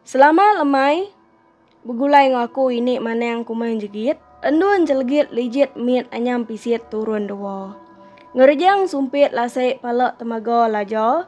Selama lemai begulai enggau aku ini manang kuman jegit, endun jelegit lijit mit anyam pisit turun dua. Ngerejang sumpit lasek pala temaga laja.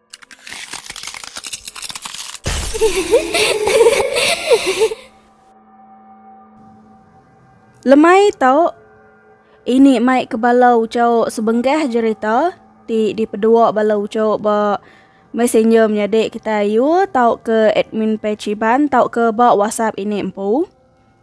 Lemai tau ini mai ke bala uchauk sebenggah jerita ti dipedua bala uchauk ba messenger menyadi kitai ayu tauka admin page Iban tauka ba whatsapp ini empu.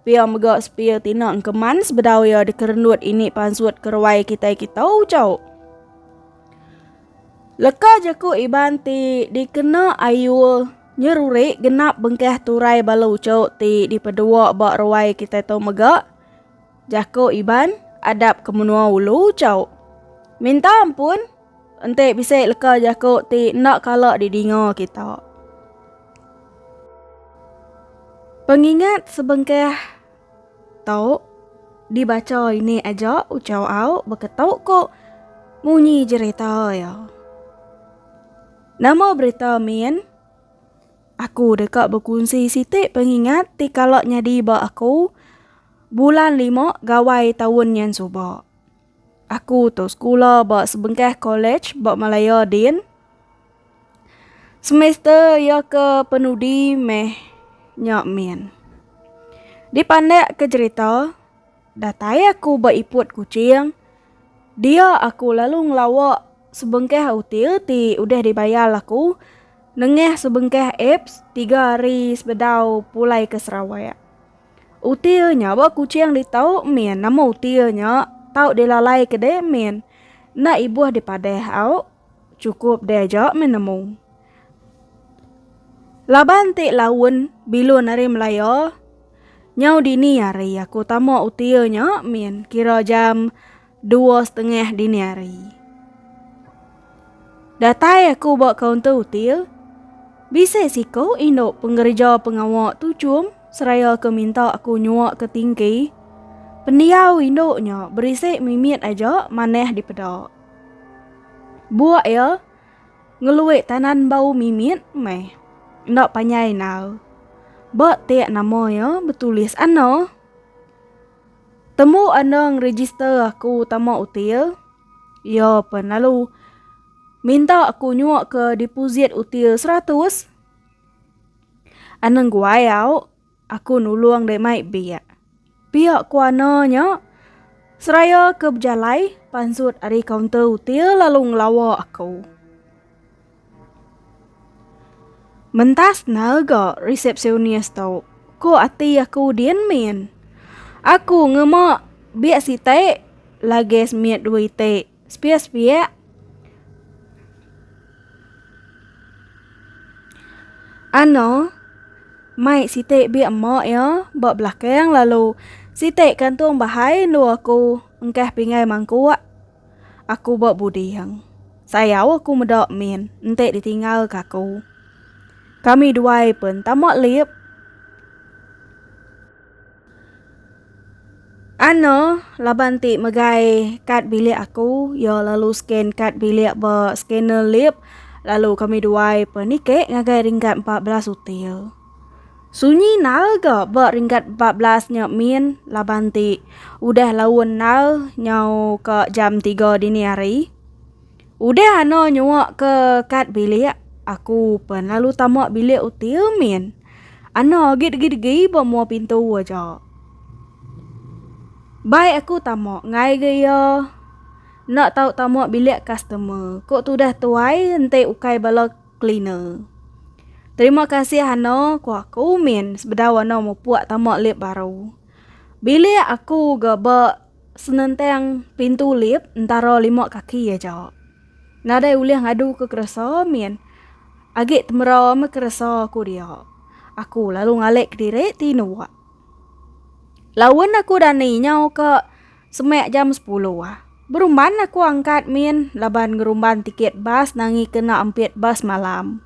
Pia mega sepia ti enda engkeman sebedau iya dikerenut ini pansut keruai kitai kita ucau. Leka jaku Iban ti dikena Ayul nyeruri genap bengkah turai bala ucau ti dipedua ba ruai kitai tu mega jaku Iban adap ke menua ulu ucau. Minta ampun Enti bisi leka jaku ti enda kala didinga kita. Pengingat sebengkah tu dibacha ini aja ucau au beketu ku munyi jerita ya. Nama berita min? Aku deka bekunsi siti pengingat ti kala nyadi ba aku bulan lima gawai taun nyan suba. Aku tu sekula ba sebengkah kolej ba Malaya din. Semester iya ke penudi meh nya min. Dipandak ke jerita, datai aku ba Iput Kuching. Dia aku lalu ngelawa sebengkah hotel ti udah dibayar aku nengah sebengkah apps tiga hari sebedau pulai ke Sarawak. Uti iya nya ba Kuching ditau min nama uti iya nya tau dilalai ke deh min enda ibuh dipadah au cukup deh aja min nemu. Laban ti laun bilun ari Malaya nyau dini ari aku tama uti iya nya min kira jam dua setengah dini hari. Datai aku ba kaunter hotel, bisa siko indu pengereja pengawa tu cum seraya ke minta aku nyuak ke tingki. Pendiau indu nya berisik mimit aja manah di peda. Buak ya, ngeluik tanan bau mimit meh. Enda panjai nau. Ba tek nama ya betulis ano. Tembu anang register aku tama uti ya. Ya pen lalu minta aku nyuak ke deposit uti seratus. Anang guai au aku nulung dek mai biak. Pia ku ana nya seraya ke bejalai pansut ari kaunter uti lalu ngelawa aku. Mentas nal ga resepsionis tu, ko ati aku din min. Aku ngema beg siti lagi semit dua iti sepiak-sepiak. Ano mai siti beg ema iya ba belakang lalu siti kantung bahai endu aku engkah pingai mangkuk. Aku ba Buding. Sayau aku meda min enti ditinggal ke aku. Kami duai pen tama lip. Ana laban ti megai kad bilik aku ya lalu scan kad bilik ba scanner lip lalu kami duai pen nike ngagai ringgat empat belas util. Sunyi nal ga ba ringkat empat belas nya min laban ti udah laun nal nyau ka jam tiga dini hari. Udah Anna nyua ke kad bilik, aku pen lalu tama bilik util min. Anna agi degi-degi ba mua pintu aja. Bai aku tama ngai ga iya enda tau tama bilik customer. Ko tudah tuai enti ukai bala. cleaner. Terima kasih ano ku aku min sebedau ano mupuk tama lip baru. Bilik aku ga ba senentang pintu lip entara lima kaki aja. Nadai ulih ngadu ke keresa min agi temera meh keresa ku dia. Aku lalu ngalek kediri ti nuak. Laun aku dani nyau ka. Semak jam sepuluh ah. Berumban aku angkat min laban ngerumban tiket bas nangi kena ampit bas malam.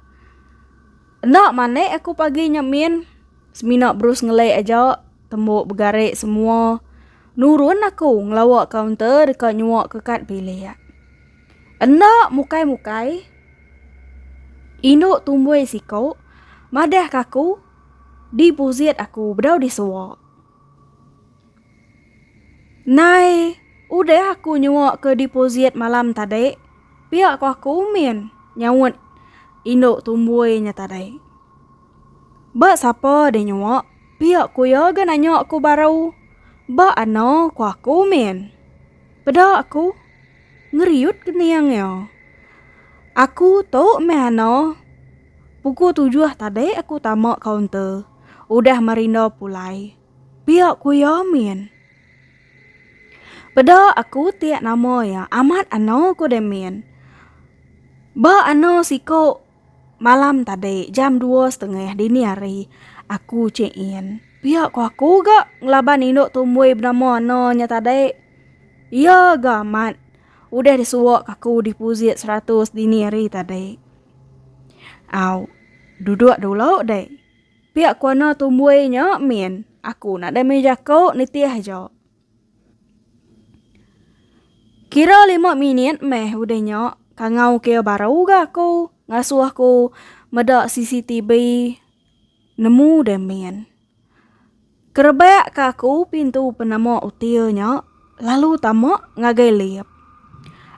Enda manik aku pagi nya min, semina berus ngelik aja tembu begarik semua. Nurun aku ngelawa kaunter deka nyuwa ke kad bilik. Enda mukai-mukai, indu tumbui siku madahka aku deposit aku bedau disewa. Nai, udah aku nyuaka deposit malam tadi. Pia ko aku umin, nyaut indu tumbui nya tadi. Ba sapa deh nyua, pia ku iya ga nanya aku baru. Ba ano ko aku umin. Peda aku, ngeriut kening iya. Aku tu meh ano, puku tujuh tadi aku tama kaunter. Udah merinda pulai. Pia ku iya min. Peda aku ti nama iya amat ano ku dia min. Ba ano siko malam tadi jam dua setengah dini hari aku check in. Pia ku aku ga ngelaban indu tumbui benama ano nya tadi. Iya ga amat udah disuak aku deposit seratus dini hari tadi. Au. Duduk dulu deh. Pia ku Ana Tumbui nya min. Aku nadai mih jaku nitih aja. Kira lima minit meh udah nya kangau ke baru ga aku ngasuh aku meda CCTV nemu deh min. Kerebak ke aku pintu penama util nya lalu tama ngagai lip.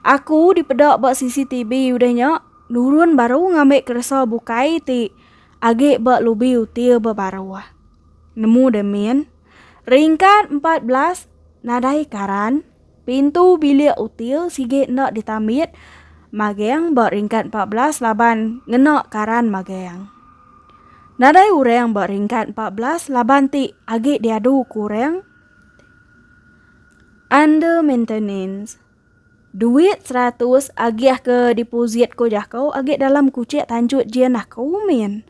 Aku dipeda ba CCTV udah nya nurun baru ngambi keresa bukai ti agi ba lobi util ba baruh. Nemu Damien, ringkat empat belas nadai karan. Pintu bilik util sigi enda ditambit magang ba ringkat empat belas laban ngena karan magang. Nadai orang ba ringkat empat belas laban ti agi diadu ku orang under maintenance. Duit seratus agih ke deposit ku jaku agi dalam kuchik tanjut jin aku min.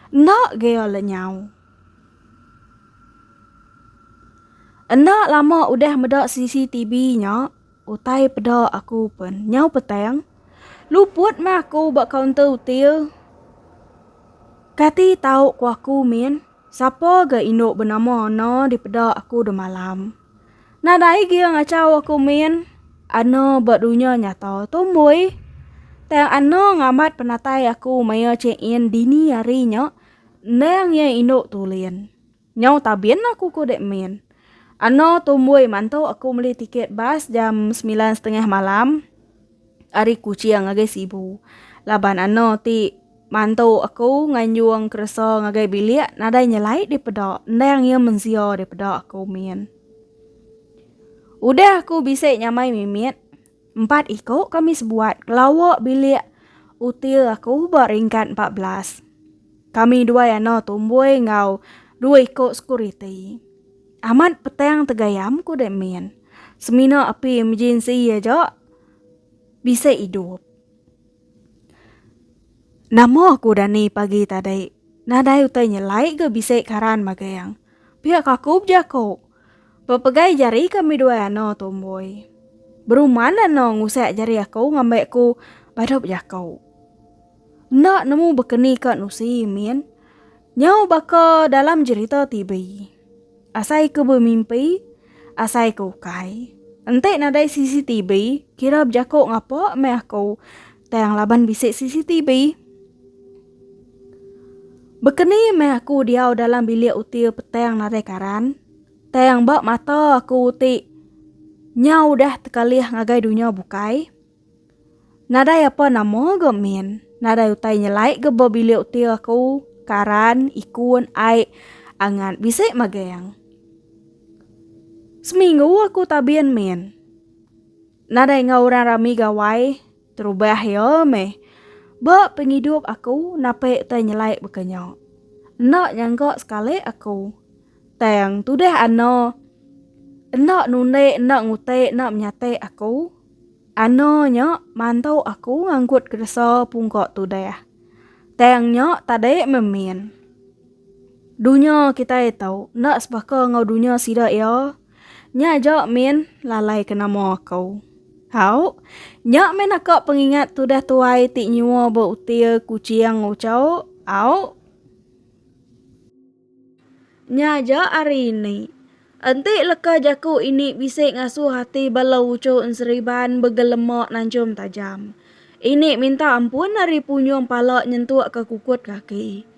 Enda gaya lenyau. Enda lama udah meda CCTV nya, utai peda aku pen nyau petang, luput meh aku ba kaunter util. Kati tau ku aku min, sapa ga indu benama Ana dipeda aku demalam. Nadai gia ngachau aku min, Ana ba dunya nyata tu mbuih. Tang Ana ngambat penatai aku maya check in dini hari nya Endang iya indu tulin. Nyau tabin aku ko dek min. Ano tumbui mantu aku meli tiket bas jam semilan setengah malam ari kuching ngagai sibu. Laban ano ti mantu aku nganjung keresa ngagai bilik nadai nyelai di peda endang iya mensia di peda aku min. Udah aku bisi nyamai mimit Empat iko kami sebuat ngelawa bilik util aku ba ringkat empat belas. Kami dua yano tumboi enggau dua iko sekuriti. Amat petang tegayam ku Damien. Semina api emejinsi aja bisi idup. Nama ku Dani pagi tadi nadai utai nyelai ga bisi karan magang. Pia ka aku bejako. Bepegai jari kami duai ano tomboi. Beruman ano ngusak jari aku ngambai aku badu bejako. Enda nemu bekeni ka nusi min. Nyau baka dalam jerita TV. Asai ku bemimpi, asai ku ukai. Enti nadai CCTV, kira bejako ngapa meh aku. Tang laban bisi CCTV. Bekeni meh aku diau dalam bilik util petang nadai karan. Tang ba mata aku ti nya udah tekalih ngagai dunya bukai. Nadai apa nama ga min. Nadai utai nyelai ga ba bilik util aku, karan, ikun, ai, angat bisi magang. Seminggu aku tabin min. Nadai enggau orang rami gawai, terubah iya meh. Ba pengidup aku napi utai nyelai baka nya. Enda nyangka sekali aku. Tang tudah Anna enda nundi enda nguti enda menyati aku. Anna nya mantu aku ngangkut geresa pungka tudah. Tang nya tadi meh min. Dunya kitai tu enda sebaka enggau dunya sida iya. Nya aja min lalai ke nama aku. Au. Nya min aka pengingat tudah tuai ti nyua ba util Kuching ucha. Au. Nya aja ari ini. Enti leka jaku ini bisi ngasuh ati bala uchu enseriban begelema nanjung tajam. Ini minta ampun ari punyung pala nyentuk ke kukut kaki.